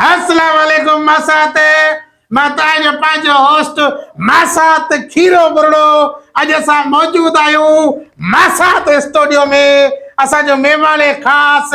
السلام عليڪم ماسات مان توهان جو پنهنجو هوسٽ ماسات کيرو برڙو اڄ اسان موجود آهيون ماسات اسٽوڊيو ۾ اسان جو مهمان خاص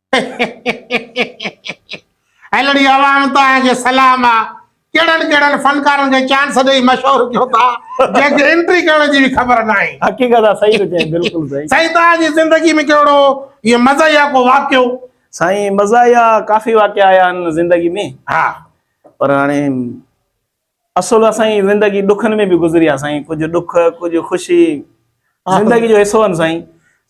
هيلڙي عوام توهان کي سلام آ ڪهڙن ڪهڙن فنڪارن کي چانس ڏئي مشهور ڪيو ٿا جنهن کي انٽري ڪرڻ جي به خبر ناهي حقيقت آ صحيح ٿو چئين بلڪل صحيح سائين توهان جي زندگي ۾ ڪهڙو ايئن مزاحيه ڪو واقعو سائين مزاحيه ڪافي واقعا آيا آهن زندگي ۾ ها پر هاڻي اصل آ سائين زندگي ڏکن ۾ به گذري آ سائين ڪجهه ڏک ڪجهه خوشي زندگي جو حصو آهن سائين.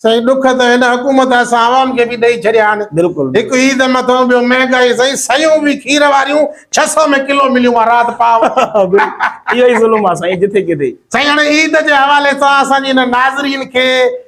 سائين ڏک ته هن حڪومت اسان عوام کي به ڏئي ڇڏيا آهن بلڪل هڪ عيد مٿون ٻيو مهنگائي سائين سيون به کير واريون ڇهه سئو ۾ ڪلو مليون آ رات پاء اهو ئي ظلم آ سائين جتي ڪٿي. سائين هاڻي عيد جي حوالي سان اسان جي هن ناظرين کي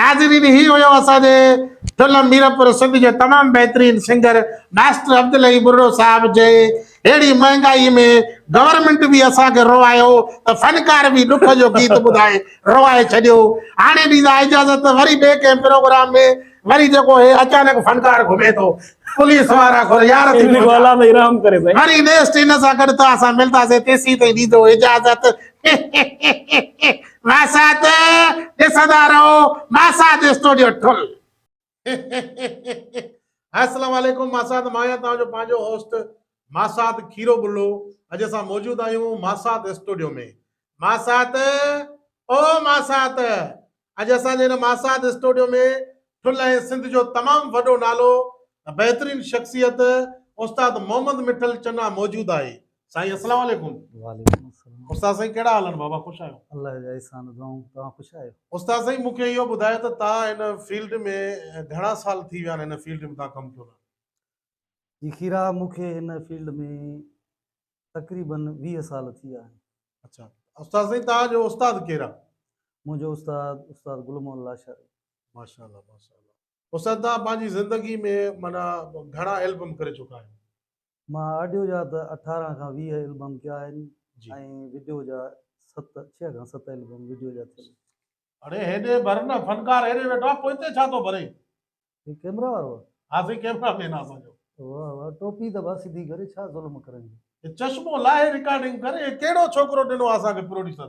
ناظرين هي هيو اسان جي ٺلهه ميرپور سنڌ جو تمام بهترين سنگر ماسٽر عبدالحي ٻرڙو صاحب جنهن اهڙي مهنگائي ۾ گورنمينٽ به اسان کي روئايو ته فنڪار به ڏک جو گيت ٻڌائي روئائي ڇڏيو هاڻي ڏيندا اجازت ته وري ٻئي ڪنهن پروگرام ۾ وري جيڪو هي اچانڪ فنڪار گهمي ٿو پوليس وارا گهر يار ٿي پهچا وري نيڪسٽ ان سان گڏ ته اسان ملنداسين تيسين تائين ڏيندو اجازت وحشت ڏسندا رهو ماساد اسٽوڊيو ٺل السلام عليڪم ماساد مان آهيان توهان جو پنهنجو هوسٽ ماساد کيرو بلو اڄ اسان موجود آهيون ماساد اسٽوڊيو ۾ ماسات او ماسات اڄ اسان جي هن ماسات اسٽوڊيو ۾ ٺل ۽ سنڌ جو تمام وڏو نالو بهترين شخصيت استاد محمد مٺل چنا موجود آهي سائين اسلام عليڪم وعليڪم السلام استاد سائين ڪهڙا حال آهن بابا خوش آهيو الله جا احسان دعائون توهان خوش آهيو استاد سائين مونکي اهو ٻڌايو ته توهان هن فيلڊ ۾ گهڻا سال ٿي ويا آهن هن فيلڊ ۾ توهان ڪم ڪيو ٿا جي خيرا مونکي هن فيلڊ ۾ تقريبن 20 سال ٿي ويا آهن اچھا استاد سائين توهان جو استاد ڪير آهي منهنجو استاد استاد گل محمد لاشاري ماشاءالله ماشاءالله استاد توهان پنهنجي زندگي ۾ معنيٰ گهڻا البم ڪري چڪا آهيو مان آڊيو جا ته اٺارهن کان ويهه البم ڪيا آهن ۽ وڊيو جا ست ڇهه کان ست البم وڊيو جا ٿيل آهن. اڙي هيڏي ڀر نه فنڪار هيڏي ويٺو آهي پوئتي ڇا ٿو ڀرين. هي ڪيمرا وارو آ. ها سائين ڪيمرا مين آ اسان جو. واه واه ٽوپي ته ڀا سڌي ڪري ڇا ظلم ڪرڻ جو. هي چشمو لاهي رڪارڊنگ ڪر هي ڪهڙو ڇوڪرو ڏنو آ اسان کي پروڊيوسر.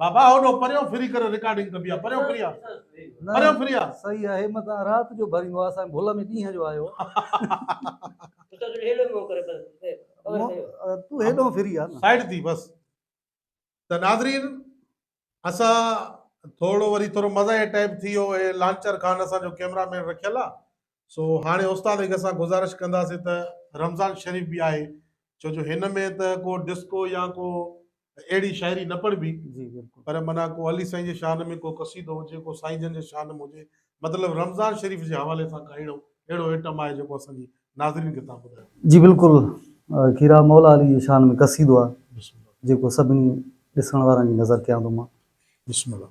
بابا هوڏو پريون ڦري ڪري رڪارڊنگ ڪبي آ پريون ڦري آ پريون ڦري آ صحيح آهي متان رات جو ڀريون آ اسان ڀل ۾ ڏينهن جو آيو تو هيڏو ڦري آ سائيڊ ٿي بس ته ناظرين اسان ٿورو وري ٿورو مزاحيه ٽائپ ٿي ويو هي لانچر خان اسان جو ڪيمرا مين رکيل آ سو هاڻي استاد هڪ سان گذارش ڪنداسين ته رمضان شريف به آهي ڇو جو هن ۾ ته ڪو ڊسڪو يا ڪو اهڙي شاعري نه پڙبي جي بالکل پر منا ڪو علي سائين جي شان ۾ ڪو قصيدو هجي ڪو سائين جن جي شان ۾ هجي مطلب رمضان شريف جي حوالي سان ڪا اهڙو اهڙو ائٽم آهي جيڪو اسان جي ناظرين کي تان ٻڌايو جي بالکل کيرا مولا علي جي شان ۾ قصيدو آهي جيڪو سڀني ڏسڻ وارن جي نظر ڪيان ٿو مان بسم الله.